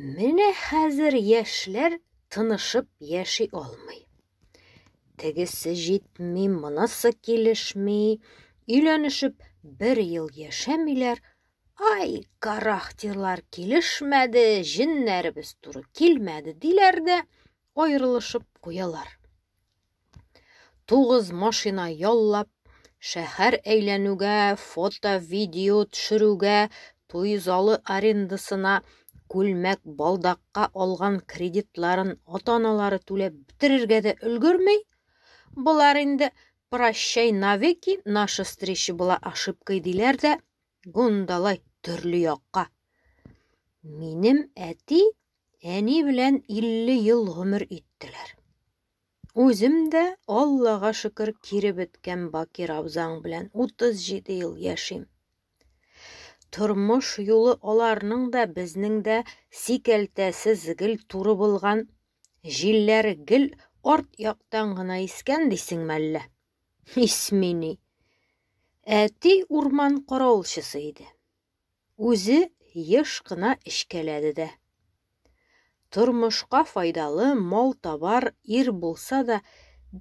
Менә хәзер яшьләр тынышып яши алмый. Тегесе җитми, монысы килешми, өйләнешеп бер ел яшәмиләр. Ай, характерлар килешмәде, җеннәребез туры килмәде диләр дә аерылышып куялар. Тугыз машина яллап, шәһәр әйләнүгә, фото-видео төшерүгә, туй залы арендасына, күлмәк, балдакка алган кредитларын ата-аналары түләп бетерергә дә өлгерми. Болар инде прощай навеки, наша встреча была ошибкой диләр дә, гундалай төрле якка. Минем әти Әни белән 50 ел гомер иттеләр. Үзем дә, Аллага шөкер, кире беткән Бакир абзаң белән 37 ел яшим. Тормыш юлы аларның да, безнең дә сикәлтәсез гел туры булган, җилләре гел арт яктан гына искән дисең мәллә? Исмени. Әти урман каравылчысы иде. Үзе еш кына эчкәләде дә. Тормышка файдалы, мал-табар, ир булса да,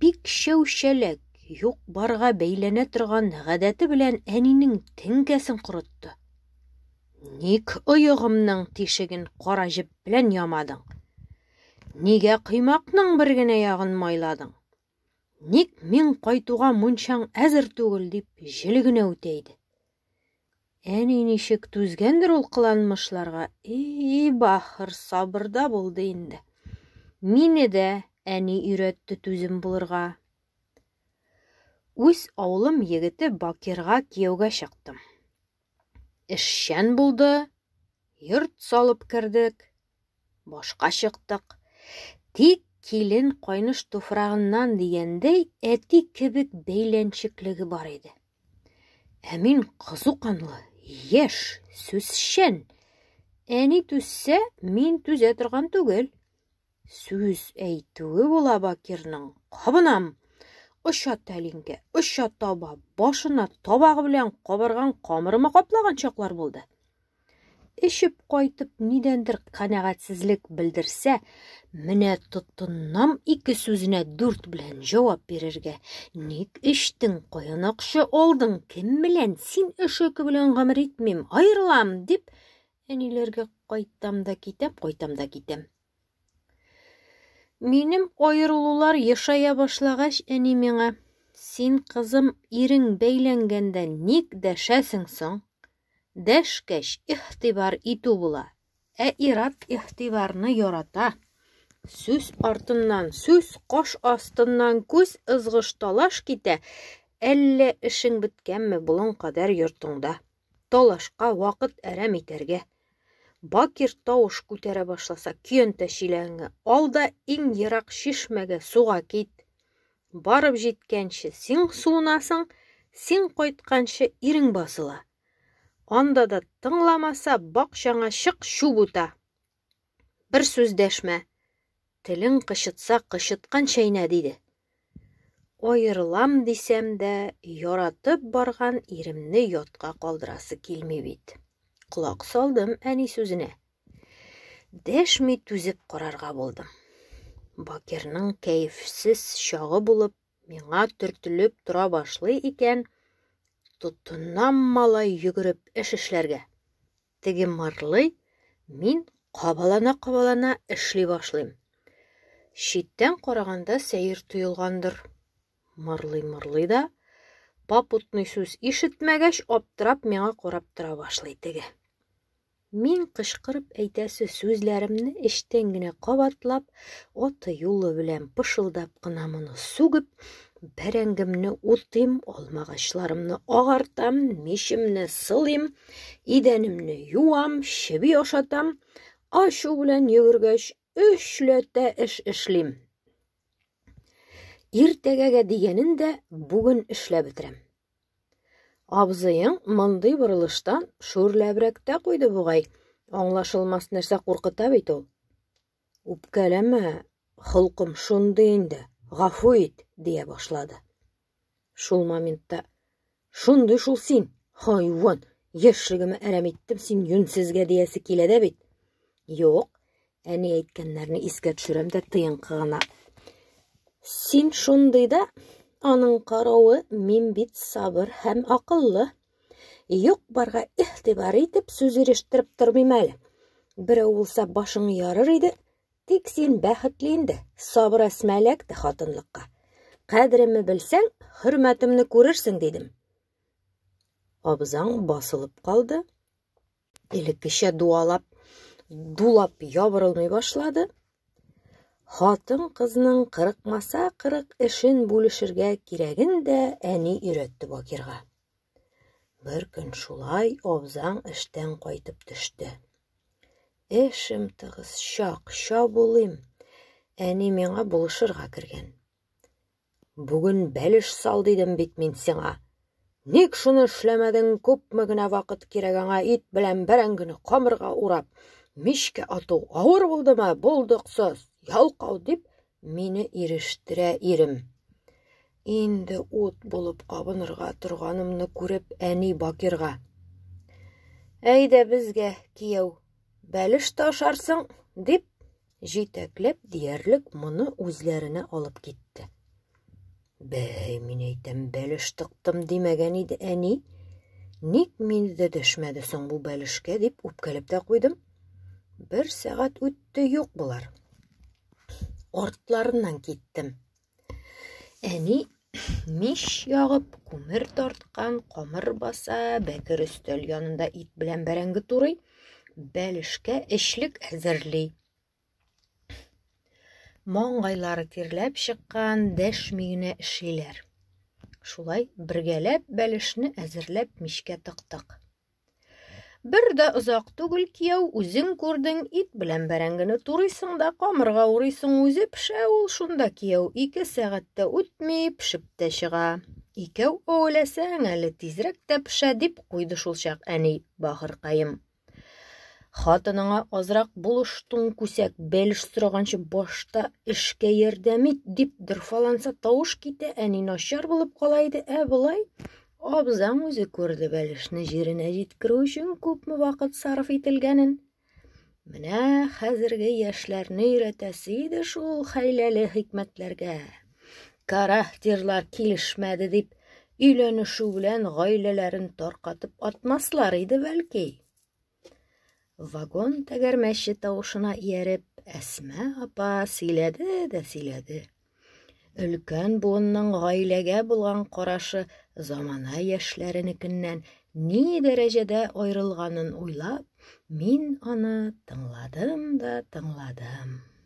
бик чәү-чәләк, юк-барга бәйләнә торган гадәте белән әнинең теңкәсен корытты. Ник оегымның тишеген кара җеп белән ямадың? Нигә коймакның бер генә ягын майладың? Ник мин кайтуга мунчаң әзер түгел, дип җел генә үтә иде. Әни ничек түзгәндер ул кыланмышларга, и бахыр сабырда булды инде. Мине дә әни өйрәтте түзем булырга. Үз авылым егете Бакирга кияүгә чыктым. Эшчән булды, йорт салып кердек, башка чыктык. Тик килен кайныш туфрагыннан дигәндәй әти кебек бәйләнчеклеге бар иде. Ә мин кызу канлы, яшь, сүзчән. Әни түзсә, мин түзә торган түгел. Сүз әйтүе була Бакирның. Кабынам! Оча тәлинкә, оча таба, башына табагы белән кабырган камырыма каплаган чаклар булды. Эчеп кайтып, нидәндер канәгатьсезлек белдерсә, менә тотыннам ике сүзенә дүрт белән җавап бирергә. Ник эчтең, каян акча алдың, кем белән, син эшеке белән гомер итмим, аерылам, дип, әниләргә кайтам да китәм, кайтам да китәм. Минем аерылулар ешая башлагач, әни миңа, син, кызым, ирең бәйләнгәндә ник дәшәсең соң? Дәшкәч, ихтибар итү була. Ә ират ихтибарны ярата. Сүз артыннан, сүз кош астыннан күз ызгыш талаш китә, әллә эшең беткәнме болын кадәр йортыңда? талашка вакыт әрәм итәргә. Бакир тавыш күтәрә башласа, көянтә чиләңе ал да иң ерак чишмәгә суга кит. Барып җиткәнче син суынасың, син кайтканчы ирең басыла. Анда да тыңламаса, бакчаңа чык, чүп ута. Бер сүз дәшмә. Телең кычытса, кычыткан чәйнә, диде. Аерылам дисәм дә, яратып барган иремне ятка калдырасы килми бит. Колак салдым әни сүзенә. Дәшми түзеп карарга булдым. Бакирның кәефсез чагы булып, миңа төртелеп тора башлый икән, тотынам малай йөгереп эш эшләргә. Теге марлый, мин кабалана-кабалана эшли башлыйм. Читтән караганда сәер тоелгандыр. Марлый-марлый да, попутный сүз ишетмәгәч, аптырап миңа карап тора башлый теге. Мин кычкырып әйтәсе сүзләремне эчтән генә кабатлап, аты юлы белән пышылдап кына моны сүгеп, бәрәңгемне утыйм, алмагачларымны агартам, мишемне сылыйм, идәнемне юам, чеби ашатам, ашу белән йөгергәч, өчләтә эш эшлим. Иртәгәгә дигәнен дә бүген эшләп бетерәм. Абзыең мондый борылыштан шүрләбрәктә куйды бугай. Аңлашылмас нәрсә куркыта бит ул. Үпкәләмә, холкым шундый инде, гафу ит, дия башлады. Шул моментта шундый шул син, хайван, яшьлегемә әрәм иттем син юнсезгә диясе килә дә бит. Юк, әни әйткәннәрне искә төшерәм дә тыенкы гына. Син шундый да, аның каравы, мин бит сабыр һәм акыллы, Юк-барга игътибар итеп сүз ирештереп тормыйм әле. Берәү булса башың ярыр иде, тик син бәхетле инде, сабыр әсмә эләкте хатынлыкка. Кадеремне белсәң, хөрмәтемне күрерсең, дидем. Абзаң басылып калды. элеккечә дуалап, дулап ябырылмый башлады. Хатын-кызның кырыкмаса кырык эшен бүлешергә кирәген дә әни өйрәтте Бакирга. Бер көн шулай абзаң эштән кайтып төште. Эшем тыгыз, чак, чабулыйм. Әни миңа булышырга кергән. Бүген бәлеш сал дидем бит мин сиңа. Ник шуны эшләмәдең, күпме генә вакыт кирәк аңа ит белән бәрәңгене камырга урап, мичкә ату авыр булдымы, булдыксыз, ялкау дип, мине ирештерә ирем. Инде ут булып кабынырга торганымны күреп әни Бакирга. Әйдә безгә, кияү, бәлеш ташарсың, дип, Җитәкләп диярлек моны үзләренә алып китте. Бәй, мин әйтәм, бәлеш тыктым димәгән иде әни. Ник мине дә дәшмәде соң бу бәлешкә дип үпкәләп тә куйдым. Бер сәгать үтте юк болар. Артларыннан киттем. Әни мич ягып, күмер тарткан, камыр баса, бәкер өстәл янында ит белән бәрәңге турый, бәлешкә эчлек әзерли. Маңгайлары тирләп чыккан, дәшми генә эшлиләр. Шулай бергәләп бәлешне әзерләп мичкә тыктык. Бер дә озак түгел кияү, үзең күрдең, ит белән бәрәңгене турыйсың да камырга урыйсың, үзе пешә ул шунда кияү. Ике сәгатьтә үтми, пешеп тә чыга. Икәү әүләсәң, әле тизрәк тә пешә, дип куйды шул чак әни, бахыркаем. Хатыныңа азрак булыштың күсәк, бәлеш сораганчы башта эшкә ярдәм ит, дип дырфаланса тавыш китә, әни начар булып кала иде, ә болай Абзаң үзе күрде бәлешне җиренә җиткерү өчен күпме вакыт сарыф ителгәнен. Менә хәзерге яшьләрне өйрәтәсе иде шул хәйләле хикмәтләргә. Карахтирлар килешмәде дип, өйләнешү белән гаиләләрен таркатып атмаслар иде бәлки. Вагон тәгәрмәче тавышына ияреп, Әсма апа сөйләде дә сөйләде. Өлкән буынның гаиләгә булган карашы замана яшьләренекеннән ни дәрәҗәдә аерылганын уйлап, мин аны тыңладым да тыңладым.